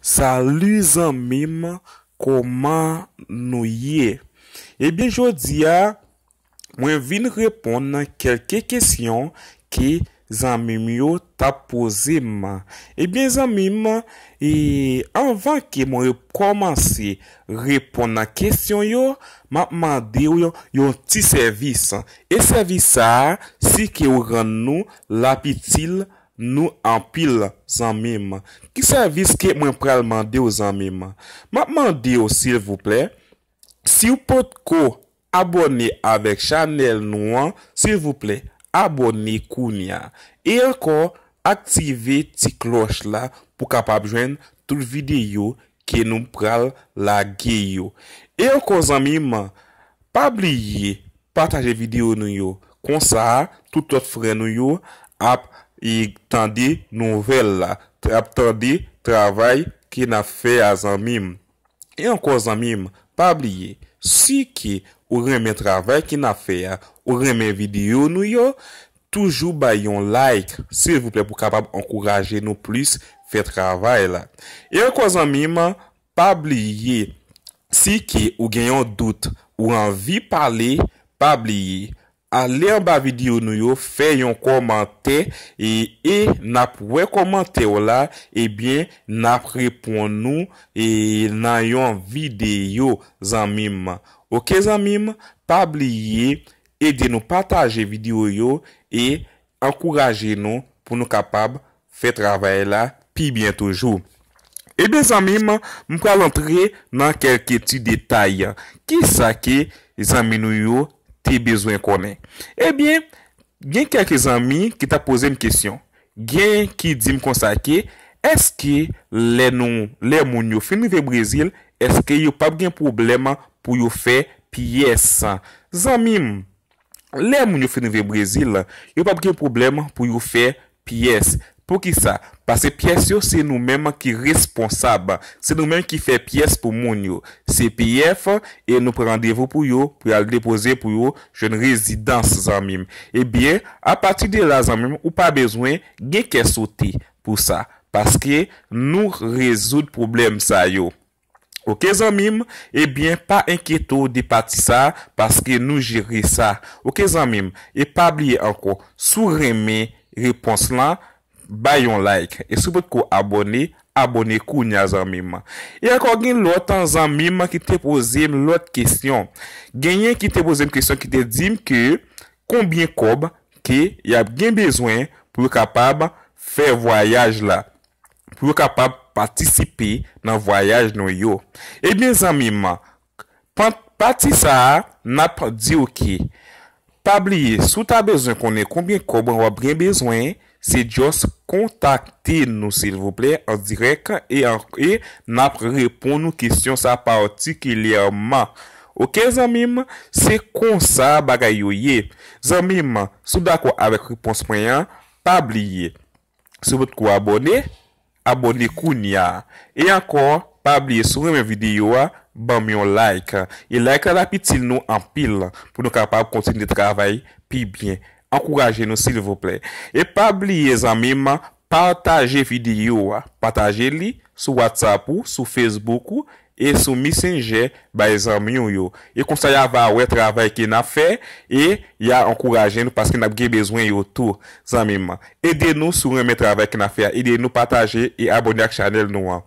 Salut zanmim koman nou ye ebyen jodia mwen vin reponn kelke kesyon ke zanmim yo tap pozem ebyen zanmim anvan ke mwen komanse reponn kesyon yo map mandew yon ti sèvis e sèvis sa si ke ou rann nou lap itil nou anpil zanmim. Ki sèvis ke mwen pral mandew zanmim? Map mandew silvouplè siw potko abòne avèk chanèl nou an silvouplè abòne kounya e ankò aktive ti klòch la pou kapab jwenn tout videyo ke nou pral lage yo. E ankò zanmim, pa bliye pataje video nou yo, konsa tout lòt frè nou yo ap tande nouvèl la, ap tande travay ke nap fè a zanmim. E ankò zanmim, pa bliye, si ke ou renmen travay ke nap fè a, ou renmen video nou yo, Toujou bay yon like silvouplè pou kapab ankouraje nou plis fè travay la. E ankò zanmim pa bliye si ke ou gen yon dout ou anvi pale pa bliye ale anba video nou yo fè yon kòmantè e e nap wè kòmantèw la ebyen nap reponn ou e nan yon video zanmim ok zanmim pa bliye Ede nou pataje video yo e ankouraje nou pou nou kapab fè travay la pi byen toujou. Ebyen zanmi m, m pral antre nan kelke ti detay. Kisa ke zanmi nou yo te bezwen konnen? Ebyen gen kelke zanmi ki tap poze m kesyon. Gen ki dim konsa ke eske lè nou lè moun yo fin rive brezil eske yo pap gen pwoblèm pou yo fè pyès zanmim lè moun yo fin rive brezil yo pap gen pwoblèm pou yo fè pyès poukisa pase pyès yo se nou menm ki responsab se nou menm ki fè pyès pou moun yo cpf e nou pran randevou pou yo pou yal depoze pou yo Jeune residence zanmim. Ebyen a pati de la zanmim ou pa bezwen gen kè sote pou sa paske nou rezoud pwoblèm sa yo ok zanmim ebyen pa enkyete w de pati sa paske nou jere sa ok zanmim e pa bliye ankò si w renmen repons lan Bay yon like e si w potko abone abone kounya zanmim e ankò gen lòt zanmim ki te pozem lòt kesyon genyen ki te pozem kesyon ki te dim ke konbyen kòb ke yap gen bezwen pou yo kapab fè vwayaj la pou yo kapab patisipe nan vwayaj nou yo ebyen zanmim Pant pati sa a nap diw ke pa bliye si w ta bezwen konnen konbyen kòb wap gen bezwen se just kontakte nou silvouplè an dirèk e nap reponn ou kesyon sa patikilyèman ok zanmi m se konsa bagay yo ye zanmi m si w dakò avèk repons mwen an pa bliye Si w potko abòne, abòne kounya. E ankò, pa bliye si w renmen videyo a, ban m yon like. E like la tap itil nou anpil pou nou kapab kontinye travay pi byen. Ankouraje nou silvouplè. E pa bliye zanmi m, pataje videyo a. Pataje li sou WhatsApp ou, sou Facebook ou, e sou Messenger bay zanmi w yo e konsa ya va wè travay ke nap fè e ya ankouraje nou paske nap gen bezwen yo tou zanmi m ede nou si w renmen travay ke nap fè a ede nou pataje e abone ak chanèl nou an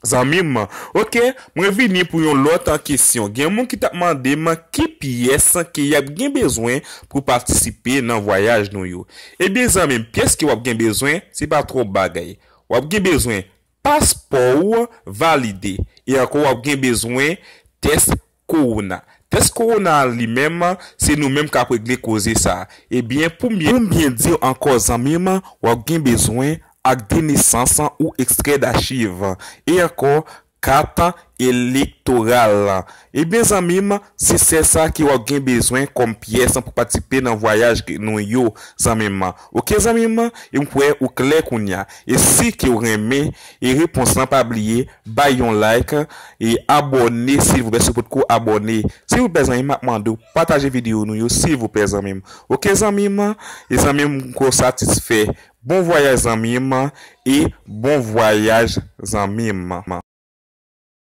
zanmi m ok mwen vini pou yon lòt kesyon gen moun ki tap mande m ki pyès ke yap gen bezwen pou patisipe nan vwayaj nou yo ebyen zanmi m pyès ke wap gen bezwen se pa twòp bagay wap gen bezwen Paspò ou an valide. E ankò w ap gen bezwen tès kowona. Tès kowona a li menm, se nou menm k ap regle koze sa. Ebyen pou m byen di w ankò zanmi m, w ap gen bezwen ak de nesans ou ekstrè dachiv. E ankò kat elektoral. Ebyen zanmi m, se sè sa ki wap gen bezwen kòm pyès pou patisipe nan vwayaj nou yo zanmi m, ok zanmi m, e m kwè ou klè kounya, e si ke w renmen e repons lan pa bliye bay yon like e abòne silvouplè si w potko abòne silvouplè zanmi m map mande w pataje video nou yo silvouplè zanmi m ok zanmi m, e zanmi m m kwè w satisfè bon vwayaj zanmi m e bon vwayaj zanmi m.